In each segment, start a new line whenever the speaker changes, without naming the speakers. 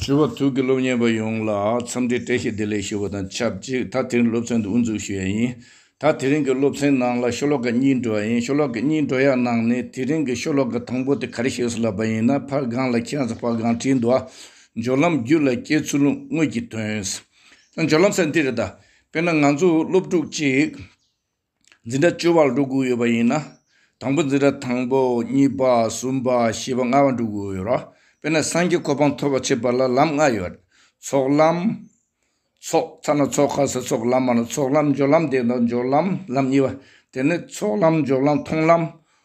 ཞུ་བ་ཐུགས་ཀྱི་སློབ་གཉེར་པ་ཡོངས་ལ་འཚམས་འདྲི་བཀྲ་ཤིས་བདེ་ལེགས་ཞུ་བ་དང་ཆབས་ཅིག་ད་དེ་རིང་སློབ་ཚན་དུ་དབུ་འཛུགས་ཞུ་ཡ་ཡིན། ད་དེ་རིང་གི་སློབ་ཚན་ནང་ལ་ཤོ་ལོ་ཀ་གཉིས་འགྲོ་ཡ་ཡིན་ཤོ་ལོ་ཀ་གཉིས་འགྲོ་ཡ་ནང་ནས་དེ་རིང་གི་ཤོ་ལོ་ཀ་དང་པོ་དེ་ག་རེ་ཞེས་སུ་ལབ་པ་ཡིན་ན་ཕར་སྒང་ལ་ཁྱེད་རང་ཕར་སྒང་བྲིས་འདུག་ཨ། སྦྱོར་ལམ་རྒྱུད་ལ་སྐྱེས་ཚུལ་དངོས་ཀྱི་དོན། སྦྱོར་ལམ་ས་འདི་རེད་ད། དཔེར་ན་ང་ཚོ་སློབ་ཕྲུག་ཅིག། འཛིན་གྲྭ་བཅུ་བར་འགྲོ་དགོས་ཡོད་པ་ཡིན་ན། དང་པོ་འཛིན་གྲྭ་དང་པོ་གཉིས་པ་གསུམ་པ་བཞི་པ་ལྔ་བ་འགྲོ་དགོས་ཡོད། དཔེར་ན་སངས་རྒྱས་གོ་འཕང་ཐོབ་པར་བྱེད་པ་ལ་ལམ་ལྔ་ཡོད། ཚོགས་ལམ། ཚོགས་ཚ་ན་ཚོགས་ཁ་ས་ཚོགས་ལམ་མ་ན་ཚོགས་ལམ་སྦྱོར་ལམ་དེ་དག་སྦྱོར་ལམ་ལམ་གཉིས་པ། དེ་ནི་ཚོགས་ལམ་སྦྱོར་ལམ་མཐོང་ལམ།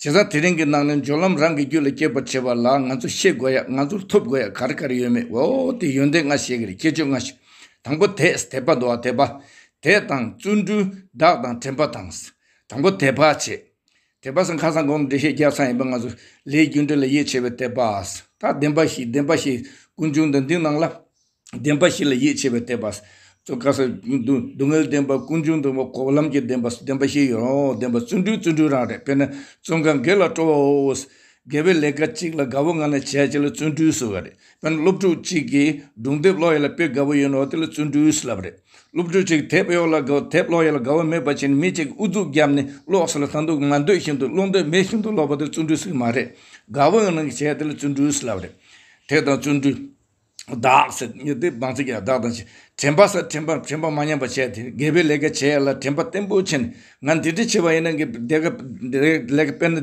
བྱས་ཙང་དེ་རིང་གི་ནང་ནས་སྦྱོར་ལམ་རང་གི་རྒྱུད་ལ་སྐྱེད་པར་བྱེད་པ་ལ་ང་ཚོ་ཤེས་དགོས་ཡ་ང་ཚོར་ཐོབ་དགོས་ཡ་ག་རེ་ག་རེ་ཡོད་མེད་འོ་དེ་ཡོན་ཏན་ལྔ་ཞེས་གི་རེད་ཁྱད་ཆོས་ལྔ་ཞེས། དང་པོ་དེས་དད་པ་འདོ་བ་དད་པ། དེས་དང་བརྩོན་འགྲུས་བདག་དང་དྲན་པ་དང། དང་པོ་དད་པ་བྱེད། དད་པ་སེང་ཁ་སང་གོང་དུ་འགྲེལ་བཤད་རྒྱག་ཚར་ཡིན་པ་ང་ཚོ་ལས་རྒྱུ་འབྲས་ལ་ཡིད་ཆེས་པའི་དད་པ། ད་བདེན་པ་ཞིག་བདེན་པ་ཞིག་ཀུན་འབྱུང་དང་འདི་སྣང་ལ། བདེན་པ་ཞིག་ལ་ཡིད་ཆེས་པའི་བསྟན་པ། སོ་ག་སོ། སྡུག་བསྔལ་བདེན་པ། ཀུན་འབྱུང་བདེན་པ། འཁོར་བ་ལམ་གྱི་བདེན་པ། བདེན་པ་ཞིག་ཡོད་རང་ཨོ། བདེན་པ་བརྩོན་འགྲུས་བརྩོན་འགྲུས་རང་རེད་དཔེར་ན། བརྩོན་གང་དགེ་ལ་སྤྲོ་བ་ཨོ། དགེ་བའི་ལས་ཀ་གཅིག་ལ་དགའ་བོ་ང་ན་བྱས་བྱས་ལ་བརྩོན་འགྲུས་སུ་བ་རེད། དཔེར་ན་སློབ་ཕྲུག་ཅིག་གིས་སྒྲུང་དེབ་ཀློག་ཡས་ལ་དཔེ་དགའ་བོ་ཡོད་ན་ཨོ་དེ་ལ་བརྩོན་འགྲུས་སུ་ལབ་རེད། སློབ་ཕྲུག་ཅིག་དེབ་གཡོག་ལ་དགའ་དེབ་ཀློག་ཡས་ལ་དགའ་བོ་མེད་པ་ཅིག་ནི་མི་གཅིག་གིས་ཨུ་ཚུགས་བརྒྱབ་ནས་ཀློག་སོང་ལ་ད་འདུག་ང་འདོད་བཞིན་དུ་ཀློག་འདོད་མེད་བཞིན་དུ་ཀློག་པ་དེ་བརྩོན་འགྲུས་སུ་གི་མ་རེད། དགའ་བོ་ཡང་ན་གི་བྱས་དེ་ལ་བརྩོན་འགྲུས་སུ་ལབ་རེད། དེ་དང་བརྩོན་འགྲུས། བདག། སེམས་ཉིད་བདེ་བ་ཚིག་ཀྱང་བདག་དང་བཞི། དྲན་པ་སེམས་དྲན་པར་དྲན་པ་མ་ཉམས་པར་བྱས་ཏེ་དགེ་བའི་ལས་ཀ་བྱས་ལ་དྲན་པ་བརྟན་པོ་བྱས་ནས་ང་འདི་འདྲ་བྱས་པ་ཡིན་ན་དགེ་བའི་ལས་ཀ་དཔེར་ན་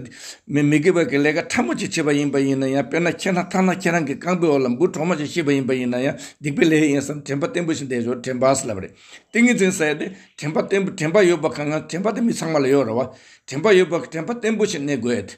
མི་དགེ་བའི་ལས་ཀ་ཕྲ་མོ་ཅིག་བྱས་པ་ཡིན་པ་ཡིན་ན་ཡང་དཔེར་ན་ཁྱེད་རྣམས་ཐ་ན་ཁྱེད་རང་གི་རྐང་པའི་འོག་ལ་འབུ་གྲོག་མ་ཞིག་ཤི་བ་ཡིན་པ་ཡིན་ན་ཡང་སྡིག་པའི་ལས་ཡིན་བསམ་དྲན་པ་བརྟན་པོ་ཞིག་འདས་ཆོག་དྲན་པ་ཟེར་ལབ་རེད། ཏིང་ངེ་འཛིན་ཟེར་ཏེ་དྲན་པ་བརྟན་པོ་དྲན་པ་ཡོད་པ་གང་ང་དྲན་པ་དེ་མི་ཚང་མ་ལ་ཡོད་རེད་བ། དྲན་པ་ཡོད་པ་དྲན་པ་བརྟན་པོ་ཞིག་གནས་དགོས་ཏེ།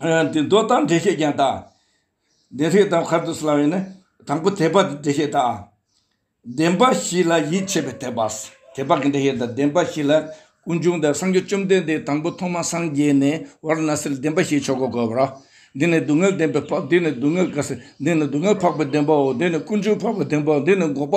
མདོ་དང་འགྲེལ་བཤད་ཀྱང་དག། བདེན་བྲལ་དམ་མཁར་དུ་བསླང་བས་ནི། དང་པོ་དད་པ་འདི་འགྲེལ་བཤད་དག། བདེན་པ་བཞི་ལ་ཡིད་ཆེས་པའི་དད་པ། དད་པ་གྱི་འགྲེལ་བཤད་དང་བདེན་པ་བཞི་ལ། ཀུན་འབྱུང་དང་སངས་རྒྱས་བཅོམ་ལྡན་འདས་དང་པོ་ཐོག་མ་སངས་རྒྱས་ནས་བར་ན་སེལ་བདེན་པ་བཞིའི་ཆོ་ག་བསྒོ་བར། འདི་ནི་སྡུག་བསྔལ་བདེན་པའི་འཕགས་འདི་ནི་སྡུག་བསྔལ་དགའ་སེལ་འདི་ནི་སྡུག་བསྔལ་འཕགས་པའི་བདེན་པའོ་འདི་ནི་ཀུན་འབྱུང་འཕགས་པའི་བདེན་པའོ་འདི་ནི་འགོག་པ་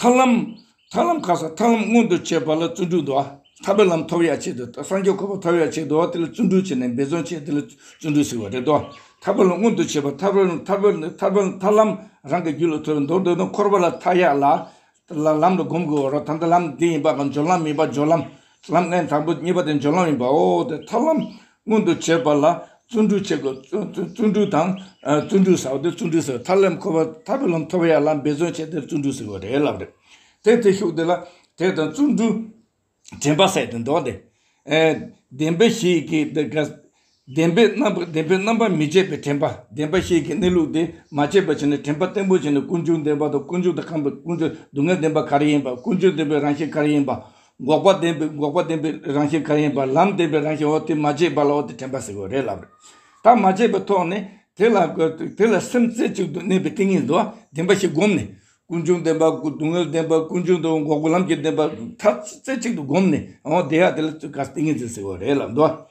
ཐར་ལམ། ཐར་ལམ་ཁ་སང་ཐར་ལམ་མངོན་དུ་བྱས་པ་ལ་བརྩོན་འགྲུས་འདུ་བ། ཐར་པའི་ལམ་ཐོབ་ཡ་ཆེད་དུ་སངས་རྒྱས་འཁོར་བ་ཐོབ་ཡ་ཆེད་དུ་བ་དེ་ལ་བརྩོན་འགྲུས་བྱས་ནས་འབད་བརྩོན་བྱས་དེ་ལ་བརྩོན་འགྲུས་ཟེར་བ་རེད་དོ། ཐར་པའི་ལམ་མངོན་དུ་བྱས་པ་ཐར་པའི་ལམ་ཐར་པའི་ཐར་པའི་ལམ་ཐར་ལམ་རང་གི་རྒྱུད་ལ་ཐོབ་པའི་མདོར་བསྡུ་ན་འཁོར་བ་ལ་མཐའ་ཡས་ལ། ལམ་ལ་བསྒོམ་དགོས་བ་རོ་ད་ལྟ་ལམ་འདི་ཡིན་པ་དང་སྦྱོར་ལམ་མིན་པ་སྦྱོར་ལམ་ལམ་ལྔའི་དང་པོ་གཉིས་པ་དེ་སྦྱོར་ལམ་ཡིན་པའོ། དེ་ཐར་ལམ་མངོན་དུ་བྱེད་པ་ལ་བརྩོན་འགྲུས་བྱེད་དགོས། བརྩོན་འགྲུས་དང། བརྩོན་འགྲུས་ཟེར་བ་དེ་བརྩོན་འགྲུས་ཟེར་བ་ཐར་ལམ་འཁོར་བ་ཐར་པའི་ལམ་ཐོབ་པ་ཡང་ལམ་འབད་བརྩོན་བྱས་དེ་བརྩོན་འགྲུས་ཟེར་བ་རེད་ལབ་རེད། དེ་དེ་ཤུགས་དེ་ལ་དེ་དང་བརྩོན་འགྲུས་དྲན་པ་བསལ་ཏེ་འགྲོ་འདི། བདེན་པའི་གཞི་ཡི་གེ་དེ་དགའ། བདེན་པའི་རྣམ་པ་བདེན་པའི་རྣམ་པ་མི་འབྱེད་པའི་དྲན་པ་བདེན་པ་ཞིག་གི་གནས་ལུགས་དེ་མ་དཔྱད་པར་བྱས་ནས་དྲན་པ་བརྟན་པོ་བྱས་ནས་ཀུན་འབྱུང་བདེན་པ་དང་ཀུན་འབྱུང་དང་ཁམས་པའི་ཀུན་འབྱུང་སྡུག་བསྔལ་བདེན་པ་ག་རེ་ཡིན་པ་ཀུན་འབྱུང་བདེན་པའི་རང་བཞིན་ག་རེ་ཡིན་པ་འགོག་པ་བདེན་པའི་འགོག་པ་བདེན་པའི་རང་བཞིན་ག་རེ་ཡིན་པ་ལམ་བདེན་པའི་རང་བཞིན་འོ་དེ་མ་དཔྱད་པ་ལ་འོ་དེ་དྲན་པ་ཟེར་བ་རེད་ལབ་རེད། ད་མ་དཔྱད་པའི་ཐོག་ནས་དེ་ལ་དེ་ལ་སེམས་རྩེ་གཅིག་ཏུ་གནས་པའི་ཏིང་ངེ་འཛིན་བདེན་པ་ཞིག་བསྒོམས་ནས་ཀུན་འབྱུང་བདེན་པ་སྡུག་བསྔལ་བདེན་པ་ཀུན་འབྱུང་དང་འགོག་པའི་ལམ་གྱི་བདེན་པ་ཐ་རྩེ་གཅིག་ཏུ་བསྒོམས་ནས་འོ་དེ་ཡང་དེ་ལ་ག་ཏིང་ངེ་འཛིན་ཟེར་བ་རེད་ལབ་འདུག།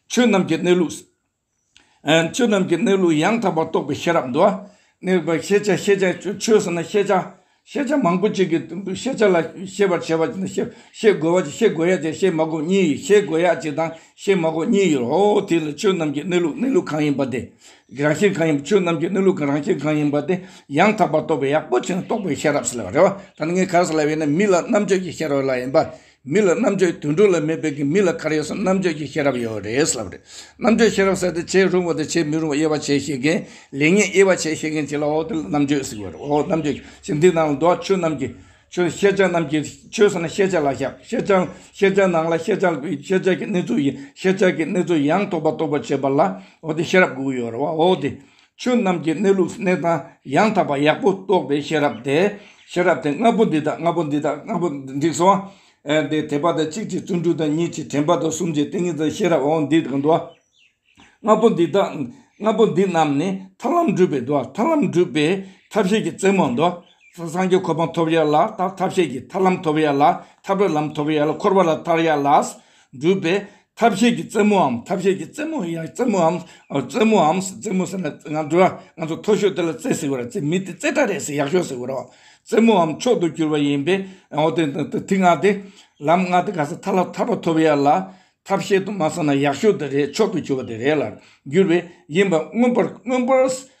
ཆོས་རྣམས་ཀྱི་གནས་ལུགས། ཆོས་རྣམས་ཀྱི་གནས་ལུགས་ཡང་དག་པར་རྟོགས་པའི་ཤེས་རབ་འདུལ་བ། གནས་པའི་ཤེས་བྱ་ཤེས་བྱ་ཆོས་ཟེར་ན་ཤེས་བྱ། ཤེས་བྱ་མང་པོ་ཅིག་གི་ཤེས་བྱ་ལ་ཤེས་པར་བྱེད་པ་ནི་ཤེས་དགོས་པ་ཅིག་ཤེས་དགོས་ཡ་ཅིག་ཤེས་མ་དགོས་གཉིས་ཡོད་ཤེས་དགོས་ཡ་ཅིག་དང་ཤེས་མ་དགོས་གཉིས་ཡོད་རོ། དེ་ལ་ཆོས་རྣམས་ཀྱི་གནས་ལུགས་གནས་ལུགས་གང་ཡིན་པ་དེ། རང་བཞིན་གང་ཡིན་པ་ཆོས་རྣམས་ཀྱི་གནས་ལུགས་རང་བཞིན་གང་ཡིན་པ་དེ་ཡང་དག་པར་རྟོགས་པའི་ཡག་པོ་ཆེ་ན་རྟོགས་པའི་ཤེས་རབ་ཟེར་བ་རེད་བ། ད་ནི་ངས་ག་རེ་ཟེར་ལབ་ཡོད་ན་མི་ལ་རྣམ་དཔྱོད་ཀྱི་ཤེས་རབ་ལ་ཡིན་པ། མི་ལ་རྣམ་དཔྱོད་དུད་འགྲོ་ལ་མེད་པའི་གི་མི་ལ་གར་ཡོད་སོང་རྣམ་དཔྱོད་ཀྱི་ཤེས་རབ་ཡོད་རེད་ལབ་རེད་རྣམ་དཔྱོད་ཤེས་རབ་ཟེར་ཏེ་བྱེད་རུང་བ་དང་བྱེད་མི་རུང་བ་དབྱེ་བ་ཕྱེ་ཤེས་མཁན་ལེགས་ཉེས་དབྱེ་བ་ཕྱེ་ཤེས་མཁན་གཅིག་ལ་འོ་དེ་ལ་རྣམ་དཔྱོད་ཟེར་གི་རེད་འོ་རྣམ་དཔྱོད་ཀྱི་འདི་ནང་ལ་འདུག་ཆོས་རྣམས་ཀྱི་ཆོས་ཤེས་བྱ་རྣམས་ཀྱི་ཆོས་ཟེར་ན་ཤེས་བྱ་ལ་ཤེས་ཤེས་བྱ་ཤེས་བྱ་ནང་ལ་ཤེས་བྱ་དགོས་ཤེས་བྱ་ཀྱི་གནས་ཚུལ་ཡིན་ཤེས་བྱ་ཀྱི་གནས་ཚུལ་ཡང་རྟོགས་པ་རྟོགས་པ་བྱེད་པ་ལ་འོ་དེ་ཤེས་རབ་དགོས་ཀྱི་ཡོད་རེད་བ་འོ་དེ་ཆོས་རྣམས་ཀྱི་གནས་ལུགས་གནས་སྟངས་ཡང་དག་པ་ཡག་པོ་རྟོགས་པའི་ཤེས་རབ་དེ། ཤེས་རབ་དེ་ལྔ་པོ་འདི་དང་ལྔ་པོ་འདི་དང་ལྔ་པོ་འདི་སོ། དེ་དད་པ་དང་གཅིག་ཅིག་བརྩོན་འགྲུས་དང་གཉིས་ཅིག་དྲན་པ་དང་གསུམ་ཅིག་ཏིང་ངེ་འཛིན་ཤེས་རབ་འོ་འདི་དང་འདུ་བ། ལྔ་པོ་འདི་དང་ལྔ་པོ་འདི་རྣམས་ནི་ཐར་ལམ་བསྒྲུབ་པའི་འདུ་བ་ཐར་ལམ་བསྒྲུབ་པའི་ཐབས་ཤེས་ཀྱི་རྩེ་མོར་འདུ་བ། སངས་རྒྱས་གོ་འཕང་ཐོབ་ཡ་ལ་ཐར་ཐབས་ཤེས་ཀྱི་ཐར་ལམ་ཐོབ་ཡ་ལ་ཐར་པའི་ལམ་ཐོབ་ཡ་ལ་འཁོར་བ་ལ་ཐར་ཡ་ལ། སྒྲུབ་པའི་ཐབས་ཤེས་ཀྱི་རྩེ་མོའམ་ཐབས་ཤེས་ཀྱི་རྩེ་མོ་ཡང་རྩེ་མོའམ་རྩེ་མོའམ་རྩེ་མོ་ཟེར་ན་ང་ཚོ་འགྲོ་བ་ང་ཚོ་མཐོ་ཤོས་དེ་ལ་རྩེ་ཟེར་བ་རེད་རྩེ་མི་དེ་རྩེ་གྲ་རེད་ཟེར་ཡག་ཤོས་ཟེར་བ་རེད། རྩེ་མོའམ་མཆོག་ཏུ་གྱུར་པ་ཡིན་པས་འོ་དེ་དང་དེ་ལྔ་སྟེ། ལམ་ལྔ་དེ་ག་ས་ཐ་ལ་ཐར་པ་ཐོབ་ཡ་ལ། ཐབས་ཤེས་དུ་མ་བསམ་ན་ཡག་ཤོས་དེ་རེད་མཆོག་ཏུ་གྱུར་པ་དེ་རེད་ལ་འགྱུར་བས་ཡིན་པ་མངོན་པར་མངོན་པར།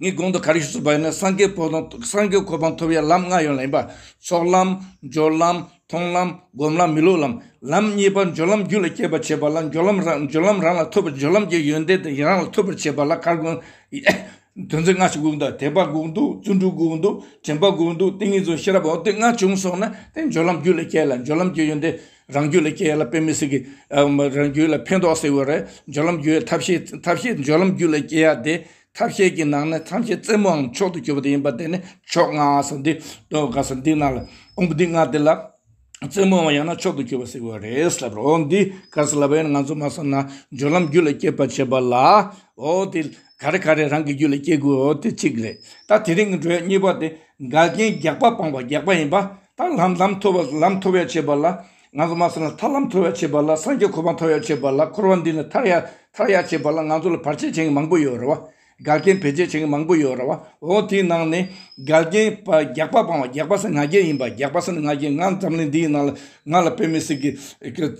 ངའི་དགོངས་དོན་ག་རེ་ཞུ་གསུངས་པ་ཡིན་ན་སངས་རྒྱས་གོ་འཕང་ཐོབ་ཡ་ལམ་ལྔ་ཡོད་ལ་ཡིན་པ་ཚོགས་ལམ། སྦྱོར་ལམ། མཐོང་ལམ། སྒོམ་ལམ་མི་ལུས་ལམ། ལམ་གཉིས་པ་སྦྱོར་ལམ་རྒྱུད་ལ་སྐྱེད་པར་བྱེད་པ་ལ་སྦྱོར་ལམ་རང་སྦྱོར་ལམ་རང་ལ་ཐོབ་པ་སྦྱོར་ལམ་གྱི་ཡོན་ཏན་དེ་རང་ལ་ཐོབ་པར་བྱེད་པ་ལ་གར་དགོངས། དོན་ཚན་ལྔ་ཞིག་དགོངས་འདུག་དད་པ་དགོངས་འདུག་བརྩོན་འགྲུས་དགོངས་འདུག་དྲན་པ་དགོངས་འདུག་ཏིང་ངེ་འཛིན་ཤེས་རབ་འོ་དེ་ལྔ་བྱུང་སོང་ན་དེ་སྦྱོར་ལམ་རྒྱུད་ལ་སྐྱེས་ལ་སྦྱོར་ལམ་གྱི་ཡོན་ཏན་རང་རྒྱུད་ལ་སྐྱེ་ལ་དཔེ་མི་སྲིད་ཀྱི། རང་རྒྱུད་ལ་ཕན་འདོགས་སྲིད་བའི་རེད། སྦྱོར་ལམ་རྒྱུད་ཐབས་ཤེས་ཐབས་ཤེས་སྦྱོར་ལམ་རྒྱུད་ལ་སྐྱེ་ཡ་དེ། ཐབས་ཤེས་ཀྱི་ནང་ནས་ཐམས་ཅད་རྩེ་མོའང་མཆོག་ཏུ་གྱུར་པ་དེ་ཡིན་པ་དེ་ནི་མཆོག་ལྔ་སོགས་འདི། དགག་ས་འདི་ན་ལ། ཀོང་པོ་འདི་ལྔ་དེ་ལ། རྩེ་མོའང་ཡང་ན་མཆོག་ཏུ་གྱུར་པ་སྲིད་བའི་རེད་ཟེར་རོ། འདི་ག་ས་ལ་བས་ན་ང་ཚོ་མ་བསམ་ན། སྦྱོར་ལམ་རྒྱུད་ལ་སྐྱེ་བར་བྱེད་པ་ལ། འོ་དེ། ག་རེ་ག་རེ་རང་གི་རྒྱུད་ལ་སྐྱེ་དགོས་འོ་དེ་གཅིག་རེད། ད་དེ་རིང་གི་འགྲོས་གཉིས་པ་དེ། འགལ་རྐྱེན་རྒྱག་པ་སྤངས་པ་རྒྱག་པ་ཡིན་པ། ཐར་ལམ་ལམ་མཐོ་བ་ལམ་མཐོ་བའི་བྱེད་པ་ལ་ང་ཚོ་མ་སོང་ལ་ཐར་ལམ་མཐོ་བའི་བྱེད་པ་ལ་སངས་རྒྱས་འཁོར་བ་མཐོ་བའི་བྱེད་པ་ལ་འཁོར་བ་འདི་ནི་ཐར་ཡ་ཐར་ཡ་བྱེད་པ་ལ་ང་ཚོ་ལ་བར་ཆད་བྱེད་མཁན་མང་པོ་ཡོད་རེད་བ། དགའ་རྐྱེན་བེད་སྤྱད་བྱེད་མཁན་མང་པོ་ཡོད་རེད་བ་འོ་དེའི་ནང་ནས་དགའ་རྐྱེན་བ་རྒྱག་པ་སྤང་བ་རྒྱག་པ་སེ་ང་རྒྱལ་ཡིན་པ་རྒྱག་པ་སེ་ང་རྒྱལ་ང་འཛམ་གླིང་འདིའི་ནང་ལ་ང་ལ་དཔེ་མེད་སྲིད་གི་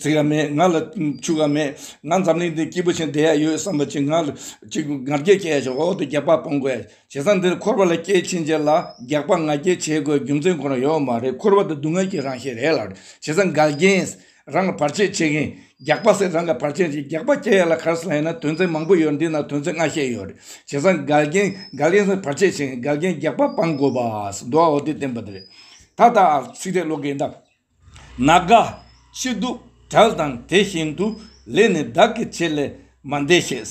ཚིག་ཡ་མེད་ང་ལ་ཕྱུག་ཡ་མེད་ང་འཛམ་གླིང་འདི་སྐྱིད་པོ་ཆེན་བསྡད་ཡ་ཡོད་བསམ་པ་ཅིག་ང་ལ་ཅིག་ང་རྒྱལ་སྐྱེ་ཡ་ཆེ་འོ་དེ་རྒྱག་པ་སྤང་དགོས་ཡ། བྱས་ཙང་འདིར་འཁོར་བ་ལ་སྐྱེས་ཕྱིན་ཆད་ལ་རྒྱགས་པ་ང་རྒྱལ་བྱེད་དགོས་རྒྱུ་མཚན་ཁོ་ན་ཡོད་མ་རེད་འཁོར་བ་འདི་སྡུག་བསྔལ་གྱི་རང་གཤེད་རེད་ལ་བྱས་ཙང་འགལ་རྐྱེན་རང་གི་བར་ཆད་བྱེད་མཁན་རྒྱགས་པ་སེ་རང་གི་བར་ཆད་བྱེད་རྒྱགས་པ་སྐྱེ་ཡ་ལ་གར་སོང་ཡ་ན་དོན་ཚན་མང་པོ་ཡོད་འདི་ན་དོན་ཚན་ལྔ་བཤད་ཡོད་རེད་བྱས་ཙང་འགལ་རྐྱེན་འགལ་རྐྱེན་སེ་བར་ཆད་བྱེད་མཁན་འགལ་རྐྱེན་རྒྱགས་པ་སྤང་དགོས་པ་སེ་འདུག་ཨོ་དེ་བསྟན་པ་འདི་རེད་ད་ལྟ་ཨ་ཚིག་རེད་ཀློག་མཁན་དག་ན་དགའ་སྐྱིད་སྡུག་གྲལ་དང་དེ་བཞིན་དུ་ལས་ནི་བདག་གི་ཆེད་ལས་མ་འདས་ཤེས།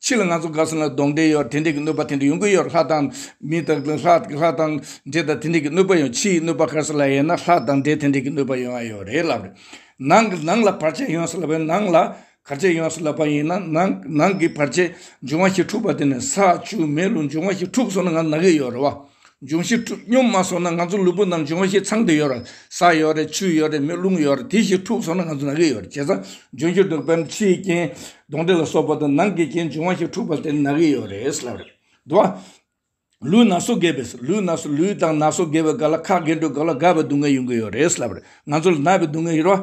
ཕྱི་ལ་ང་ཚོ་དགའ་ཟིན་ལ་སྡོང་དེ་ཡོད་དེ་འདྲས་ཀྱི་གནོད་པ་དེ་འདྲས་ཡོང་གི་ཡོད་ལྷ་དང། མི་དང། ལྷ་དང། འདྲས་དང་དེ་འདྲས་ཀྱི་གནོད་པ་ཡོང་ཕྱིའི་གནོད་པ་ག་ས་ལ་ཡོད་ན་ལྷ་དང་འདྲས་དེ་འདྲས་ཀྱི་གནོད་པ་ཡོང་ཨ་ཡོད་རེད་ལབ་རེད། ནང་གི་ནང་ལ་བར་ཆད་ཡོང་ས་ལ་བས་ནང་ལ་གར་ཆད་ཡོང་ས་ལ་བ་ཡིན་ན་ནང་ནང་གི་བར་ཆད་འབྱུང་བ་ཞིག་འཁྲུགས་པ་དེ་ནས་ས་ཆུ་མེ་རླུང་འབྱུང་བ་ཞིག་འཁྲུགས་སོང་ན་ང་ནག་གི་ཡོད་རེད་བ། འབྱུང་བཞི་འཁྲུགས་སྙོམས་མ་སོང་ན་ང་ཚོ་ལུས་པོ་རྣམས་འབྱུང་བ་བཞི་ཚང་དུ་ཡོད་ར་ས་ཡོད་རེད་ཆུ་ཡོད་རེད་མེ་རླུང་ཡོད་རེད་དེ་བཞི་འཁྲུགས་སོང་ན་ང་ཚོ་ནག་གི་ཡོད་རེད་བྱས་ཙང་འབྱུང་བཞི་འཁྲུགས་པའམ་ཕྱིའི་རྐྱེན་གདོན་འདྲེ་ལ་སོགས་པ་དང་ནང་གི་རྐྱེན་འབྱུང་བ་བཞི་འཁྲུགས་པ་དེ་ནག་གི་ཡོད་རེད་ཟེར་ལབ་རེད་འདུག་བ། ལུས་ན་སོ་འགས་པས་ལུས་ན་སོ་ལུས་དང་ན་སོ་འགས་པའི་སྒ་ལ་ཁག་འགས་འགྲོ་དགོས་ལ་དགའ་བའི་སྡུག་བསྔལ་ཡོང་གི་ཡོད་རེད་ཟེར་ལབ་རེད་ང་ཚོ་ལ་ན་བའི་སྡུག་བསྔལ་ཡོད་ར་བ།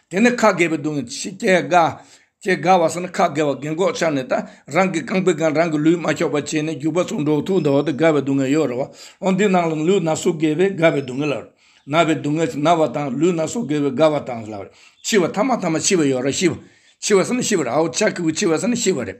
དེ་ནས་ཁ་བགད་པའི་སྡུག་བསྔལ་ཕྱིས་སྐྱེ་དགའ། ཅེས་དགའ་བ་སེམས་ན་ཁ་བགད་བ་བགད་འགོག་ཆགས་ནས་དང་རང་གི་རྐང་པའི་སྒང་རང་གི་ལུས་མ་ཁྱོགས་པར་བྱས་ནས་རྒྱུག་པ་སོགས་འགྲོགས་ཐུག་འདའ་བ་དེ་དགའ་བའི་སྡུག་བསྔལ་ཡོད་རེད་བ། འོན་ཏེ་ནང་ལ་ལུས་ན་སོ་བགད་པས་དགའ་བའི་སྡུག་བསྔལ་ལགས། ན་བའི་སྡུག་བསྔལ་ན་བ་དང་ལུས་ན་སོ་བགད་པས་དགའ་བ་དང་ལགས། འཆི་བ་ཐ་མ་ཐ་མ་འཆི་བ་ཡོད་ར་ཤི་བ། འཆི་བ་སེམས་ན་ཤི་བ་རེད་ཨའོ་ཅག་གིའུ་འཆི་བ་སེམས་ན་ཤི་བ་རེད།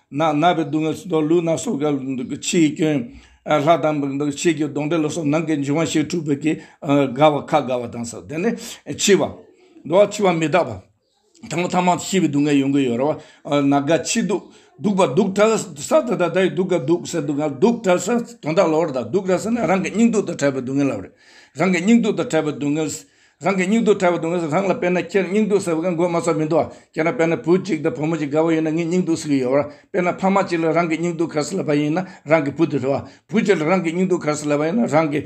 ནགས་ནག་པའི་སྡུག་བསྔལ་སོགས་ལུས་ནག་སོགས་ཀྱི་ཕྱིའི་སྐྱོན། ལྷ་དང་བུ་དང་ཕྱིས་ཀྱི་གདོན་འདྲེ་ལ་སོགས་ནང་གི་འབྱུང་བ་བཞིར་འཁྲུལ་པའི་དགའ་བ་ཁ་དགའ་བ་དང་སོགས་དེ་ནི་འཆི་བ། འགྲོ་བ་འཆི་བ་མི་རྟག་པ། དང་པོ་ཐ་མ་ཤི་བའི་སྡུག་བསྔལ་ཡོང་གི་ཡོད་རེད་བ། ན་རྒ་འཆི་སྡུག་སྡུག་པ་སྡུག་བྲལ་ས་དེ་དག་དེ་སྡུག་ག་སྡུག་སེ་སྡུག་ག་སྡུག་བྲལ་ས་དོན་དག་ལོག་རེད་ད་སྡུག་བྲལ་ས་ནི་རང་གི་སྙིང་སྡུག་དང་བྲལ་བའི་སྡུག་བསྔལ་ལབ་རེད་རང་གི་སྙིང་སྡུག་དང་བྲལ་བའི་སྡུག་བསྔལ་རང་གི་སྙིང་སྡུག་ཕྲ་བའི་དོན་དངོས་སུ་རང་ལ་དཔེར་ན་ཁྱེད་སྙིང་སྡུག་ཟེར་བ་ག་མགོན་མ་སོགས་མི་འདུག་ཁྱེད་རང་དཔེར་ན་བུ་གཅིག་དང་བུ་མོ་གཅིག་དགའ་བོ་ཡོད་ན་ངས་སྙིང་སྡུག་ཟེར་གྱི་ཡོད། དཔེར་ན་ཕ་མ་གཅིག་ལ་རང་གི་སྙིང་སྡུག་གར་སེལ་བ་ཡིན་ན་རང་གི་བུ་དེ་རེད། བུ་གཅིག་ལ་རང་གི་སྙིང་སྡུག་གར་སེལ་བ་ཡིན་ན་རང་གི་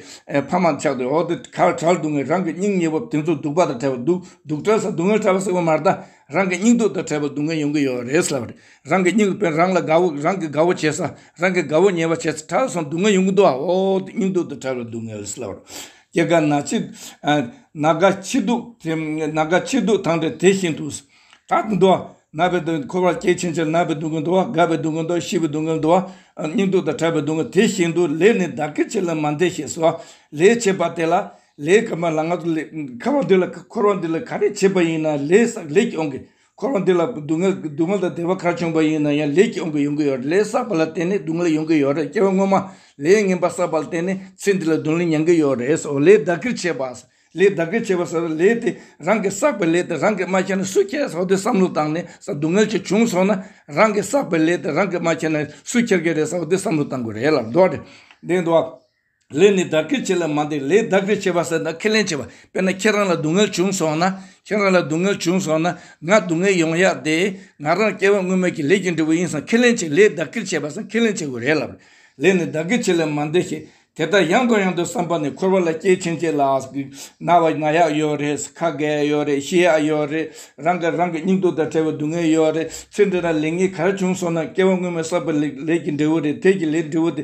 ཕ་མ་ཆགས་འདུག་འོ་དེ་གར་གྲལ་འདུག་ངས་རང་གི་སྙིང་ཉེ་བོ་དེ་ཚོ་སྡུག་པ་དང་བྲལ་བ་འདུག་སྡུག་གྲལ་ས་སྡུག་བསྔལ་ཕྲ་བ་ཟེར་བ་མ་གཏའ། རང་གི་སྙིང་སྡུག་དང་བྲལ་བའི་སྡུག་བསྔལ་ཡོང་གི་ཡོད་རེད་ཟེར་བ་རེད། རང་གི་སྙིང་དཔེར་ན་རང་ལ་དགའ་བོ་རང་གིས་དགའ་བོ་བྱས་ས་རང་གིས་དགའ་བོ་ཉེས་པ་བྱས་ས་གྲལ་སོང་སྡུག་བསྔལ་ཡོང་གི་འདུག་ཨོ་དེ་སྙིང་སྡུག་དང་བྲལ་བའི་སྡུག་བསྔལ་ཟེར་བ་རེད། སྐྱེ་རྒ་ན་འཆི། ན་རྒ་འཆི་དུག་དེ་ན་རྒ་འཆི་དུག་དང་འདྲ་དེ་བཞིན་དུ། དག་གི་འདུ་བ། ན་བའི་འདུ་བ་འཁོར་བར་སྐྱེ་ཕྱིན་ཆད་ན་བའི་སྡུག་བསྔལ་འདུ་བ་རྒ་བའི་སྡུག་བསྔལ་འདུ་བ་ཤི་བའི་སྡུག་བསྔལ་འདུ་བ། སྙིང་སྡུག་དང་ཕྲ་བའི་སྡུག་བསྔལ་དེ་བཞིན་དུ་ལས་ནི་བདག་གི་ཕྱིར་ལ་མ་འདས་ཞེས་སོ། ལས་བྱེད་པ་དེ་ལ། ལས། ཁ་བ་འདི་ལ་འཁོར་བ་འདི་ལ་ག་རེ་བྱེད་པ་ཡིན་ན་ལས་ཀྱི་དབང་གིས་འཁོར་བ་འདི་ལ་སྡུག་བསྔལ་དང་བདེ་བ་གར་བྱུང་བ་ཡིན་ན་ཡང་ལས་ཀྱིས་འོང་གི་ཡོང་གི་ཡོད་རེད་ལས་བསགས་པ་ལ་བརྟེན་ནས་སྡུག་བསྔལ་ཡོང་གི་ཡོད་རེད་སྐྱེ་བ་སྔོན་མ་ལས་ངན་པ་བསགས་པ་ལ་བརྟེན་ནས་ཚེ་འདི་ལ་སྡུག་བསྔལ་མྱང་གི་ཡོད་རེད་ཟེར་བ་ལས་བདག་གིར་བྱས་པ། ལས་བདག་གིར་བྱས་པ་ཟེར་བ་ལས་དེ་རང་གིས་བསགས་པའི་ལས་དེ་རང་གིས་མ་བྱས་ན་སུས་ཁྱེར་ཟེར་བ་དེ་བསམ་བློ་བཏང་ནས་ས་སྡུག་བསྔལ་ཆེ་ཆུང་སོང་ན་རང་གིས་བསགས་པའི་ལས་དེ་རང་གིས་མ་བྱས་ན་སུས་ཁྱེར་གི་རེད་ཟེར་བ་དེ་བསམ་བློ་བཏང་དགོས་རེད་ལབ་འདོད་རེད། ལས་ནི་བདག་གིར་བྱེད་ལ་མ་འདས་ལས་བདག་གིར་བྱེད་པ་ཟེར་ན་ཁས་ལེན་བྱེད་པ་དཔེར་ན་ཁྱེད་རང་ལ་སྡུག་བསྔལ་བྱུང་སོང་ན་ཁྱེད་རང་ལ་སྡུག་བསྔལ་བྱུང་སོང་ན་ང་སྡུག་བསྔལ་ཡོང་ཡ་དེ་ང་རང་སྐྱེ་བ་སྔོན་མ་གི་ལས་ཀྱི་འབྲས་བུ་ཡིན་སང་ཁས་ལེན་བྱེད་ལས་བདག་གིར་བྱེད་པ་སང་ཁས་ལེན་བྱེད་དགོས་རེད་ལབ་རེད་ལས་ནི་བདག་གིར་བྱེད་ལ་མ་འདས་ཞེས་དེ་ལྟར་ཡང་དང་ཡང་དུ་བསམ་པ་ནི་འཁོར་བ་ལ་སྐྱེས་ཕྱིན་ཆད་ལ་ན་བ་ན་ཡག་ཡོད་རེད་ཁ་བགད་ཡོད་རེད་ཤི་ཡག་ཡོད་རེད་རང་གིས་རང་གི་སྙིང་སྟོབས་དང་བྲལ་བའི་སྡུག་བསྔལ་ཡོད་རེད་ཚེ་འདི་ན་ལས་ངན་ག་རེ་བྱུང་སོང་ན་སྐྱེ་བ་སྔོན་མ་བསགས་པའི་ལས་ཀྱི་འབྲས་བུ་རེད་དེ་ཀྱི་ལས་འབྲས་བུ་དེ།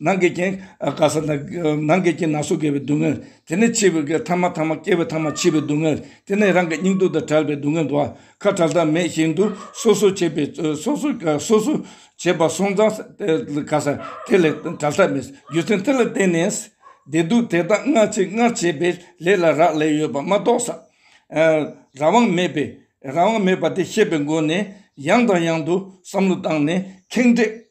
ནང་གི་རྐྱེན་དགའ་ས་དང། ནང་གི་རྐྱེན་ན་སོ་སྐྱེ་བའི་སྡུག་བསྔལ། དེ་ནས་འཆི་བའི་གེགས་ཐ་མ་ཐ་མ་སྐྱེ་བའི་ཐ་མ་འཆི་བའི་སྡུག་བསྔལ། དེ་ནས་རང་གི་སྙིང་སྡུག་དང་བྲལ་བའི་སྡུག་བསྔལ་འདུ་བ། ཁ་བྲལ་ཐབས་མེད་བཞིན་དུ་སོ་སོར་བྱེད་པའི་སོ་སོར་སོ་སོར་བྱེད་པ་སོང་ཙང་དགའ་ས་དེ་ལས་བྲལ་ཐབས་མེད། རྒྱུ་མཚན་དེ་ལ་བརྟེན་ནས། བདེ་སྡུག་དེ་དག་སྔར་བྱས་སྔར་བྱས་པའི་ལས་ལ་རག་ལས་ཡོད་པ་མ་རྟོགས་ས། རང་དབང་མེད་པས་རང་དབང་མེད་པ་དེ་ཤེས་པའི་སྒོ་ནས་ཡང་དང་ཡང་དུ་བསམ་བློ་བཏང་ནས་ཁེངས་དྲེགས